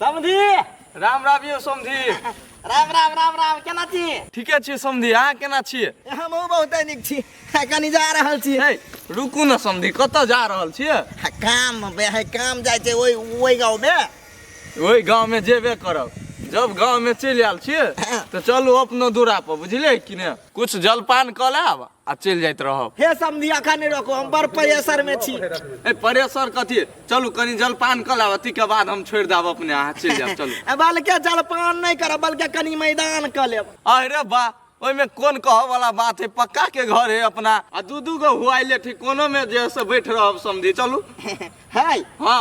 समधी राम राम यौ समधी राम राम राम राम केना छी ठीके छियै समधी अहाँ केना छियै हमहूँ बहुते नीक छी आ, कनी जा रहल छी हे रुकू ने समधी कतऽ जा रहल छियै आ, काम बे है काम जाइ छै ओहि ओहि गाँवमे ओहि गाँवमे जेबे करब जब गाँवमे चलि आयल छियै तऽ चलू अपनो दूरा पर बुझलियै कि ने कुछ जलपान कऽ लेब आ चलि जाइत रहब हे समधी अखन नहि रखो हम बड़ प्रेशर में छी ए परेशर कथी चलू कनी जलपान कऽ लेब अथी के बाद हम छोड़ि देब अपने अहाँ चलि जायब चलू ए, बल्कि जलपान नहीं करब बल्कि कनी मैदान कर लेब अरे बा ओहिमे कोन कहऽ वाला बात है पक्का के घर है अपना आ दू दू गो हुआइले ठीक कोनो में जे है से बैठ रहब समझी चलू है हाँ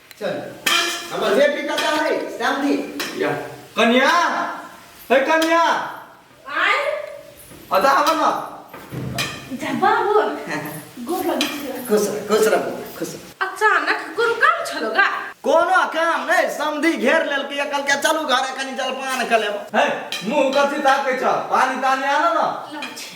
चल हमर वेट भी कता है श्याम जी या कन्या हे कन्या आय अदा आवा ना जा बाबू गोर लगै छै खुश रह खुश रह बौआ, खुश रह। अचानक कोनो काम छलो गा कोनो काम नहीं समधी घेर लेल के कल के चलू घर कनी जलपान कर लेब हे मुंह कथि ताके छ पानी तानी आना ना लम छै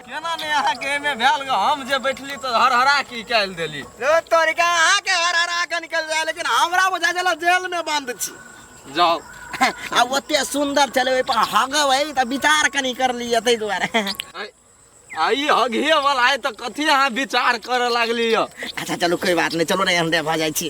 केना ने अहाँ के एमे भेल ग हम जे बैठली त हरहरा की काल देली रे तोरी का अहाँ के हर हरा के निकल जाए लेकिन हमरा बुझा चला जेल में बंद छी जाओ आ ओते सुंदर चले ओइ पर हगव है त विचार कनी कर लिए तै दुआरे आइ- आई हगिए वाला आइ त कथी अहाँ विचार करे लागली य अच्छा चलो कोई बात नहीं चलो रे अंडे भा जाई छी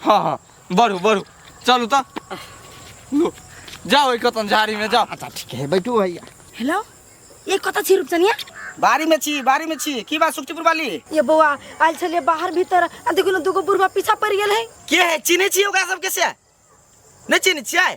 हँ हँ बढ़ू बढ़ू चलू तऽ लो, जाओ एक कतन झाड़ी में जाओ अच्छा ठीक है बैठू भैया हेलो ये कतऽ छी रूपचनिया बारी में छी बारी में छी की बात सुखचीपुर वाली ये बौआ आयल छलियै बाहर भीतर आ देखू ने दूगो बुढ़वा पीछा पड़ि गेल है के है चिन्है छी ओकरा सबके से नहि चिन्है छियै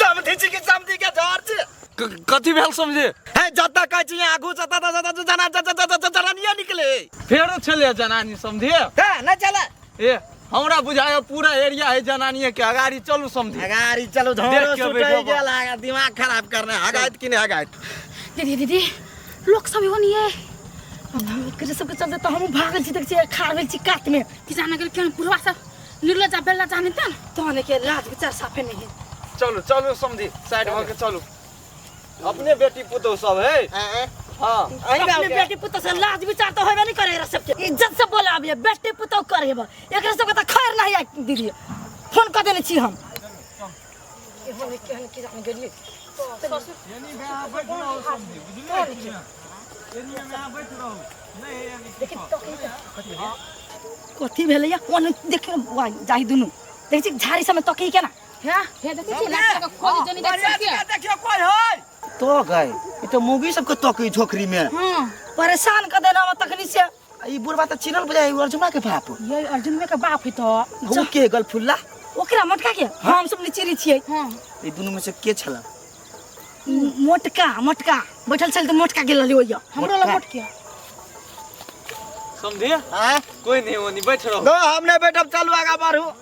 समझी छी कि समझी के डर छी क- कथी भेल समझे है जतऽ कहै छी यहाँ आगू जतऽ ततऽ ततऽ जना जतऽ ततऽ ततऽ जनानिये निकले फेरो छलै जनानी समझे है नहि चले ए हमरा बुझाय पूरा एरिया है जनानिये के अगाड़ी चलू समझे अगाड़ी चलो देख झोरो के सुटै बैठो बा। गेल आगा दिमाग खराब करने हगाइत कि नहि हगाइत दीदी दीदी लोक सब एगो नहीं है अब हम एकरे सबके चलते तो हम भागल छी देख छी खाड़ भेल छी कात में किसान अगर केहन पुरवा सब लुगा जा बेला जाने त तहने के लाज विचार साफे नहीं चलू चलू समझी साइड भऽ के चलू अपने बेटी पुतौ सब है आँय? हाँ अहीं गाँव अपने के? बेटी पुत से लाज विचार तो होबे नहीं करे एकरा सबके इज्जत से बोला अभी बेटी पुत कर हेबे एकरा सबके त खैर नहीं आइ दीदी फोन कर देने छी हम कथी भेलै या कोन देखियो वाह जाहि दुनु देखै छी झाड़ी सबमे तकी केना हाँ हे देखै छी लड़का के खोज जनी देख सकिए देखियो कोन होय तो गए ई तो मूवी सबके तकी झोकरी में हाँ परेशान कर देना हम तकनी से ई बुढ़वा तऽ चिन्हल बुझाइ है अर्जुना के बाप ये अर्जुन में के बाप है तो वो के गल फुल्ला ओकरा मोटका के हम सब निचेरी छियै हां ई दुनू में से के छला मोटका मोटका बैठल छल तऽ मोटका गेल रहली ओइया हमरो ला मोटका। मोटके समझे हैं कोई नहीं वो नहीं बैठ रहो नो हम नहीं बैठब चलू आगा बढ़ू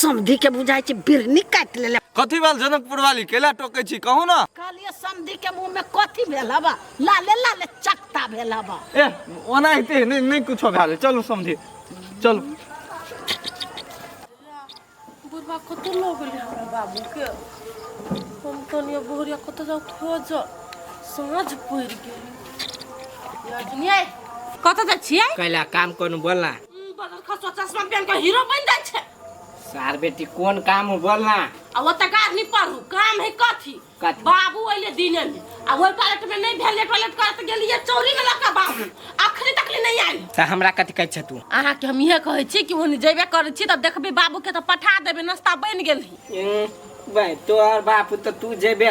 समधी के बुझाई छै बिरनी काट लेले कथी भेल जनकपुर वाली केला टोके छी कहू ना कहलिए समधी के मुंह में कथी भेल हबा लाले लाले चकता भेल हबा ए ओना हेते नहीं नहीं कुछो भेल चलू समझी चलू बुढ़वा कत लो गेलै हमरा बाबूके हम तनिया बोहरिया कत जाउ खोज साँझ पड़ि गेलै कत जाइ छियै कैला काम कौन बोलना बदल खसो चश्मा पहन के हीरो बन जाय छै सार बेटी कोन काम हो बोल ना आ ओतऽ गार नहि पढ़ू काम है कथी कथी? बाबू अयले दिने में आ ओहि टॉयलेट में नहि भेल टॉयलेट करत गेलियै चौरी में लगा बाबू अखनी तक ले नहि आयल त हमरा कथी कहै छ तू अहाँके हम इहे कहै छी कि ओने जेबे करै छी तऽ देखबै बाबूके तऽ पठा देबै नाश्ता बनि गेल ही ए, भाई तोहर बाप त तू जेबे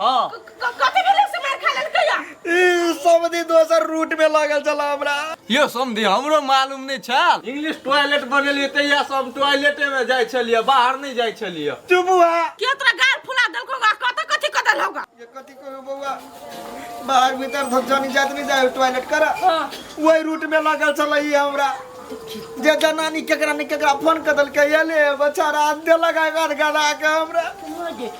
हाँ कथी भेलै से मार खा लेलकै या ई समधी दोसर रूट में लागल छला हमरा यो समधी हमरो मालूम नहीं छल इंग्लिश टॉयलेट बनेलिए तहिया से हम टॉयलेटे में जाय छलिए बाहर नहीं जाय छलिए चुप हुआ के तोरा गाल फुला देलको गा कत कथी क देल होगा ये कथी कहो बउआ बाहर भीतर धक्का नहीं जात नहीं जाए टॉयलेट कर हाँ। वही रूट में लागल छला ई हमरा जे जनानी केकरा ने केकरा फोन कर देलकै ये ले बच्चा रात दे लगा गाड़ गड़ा के हमरा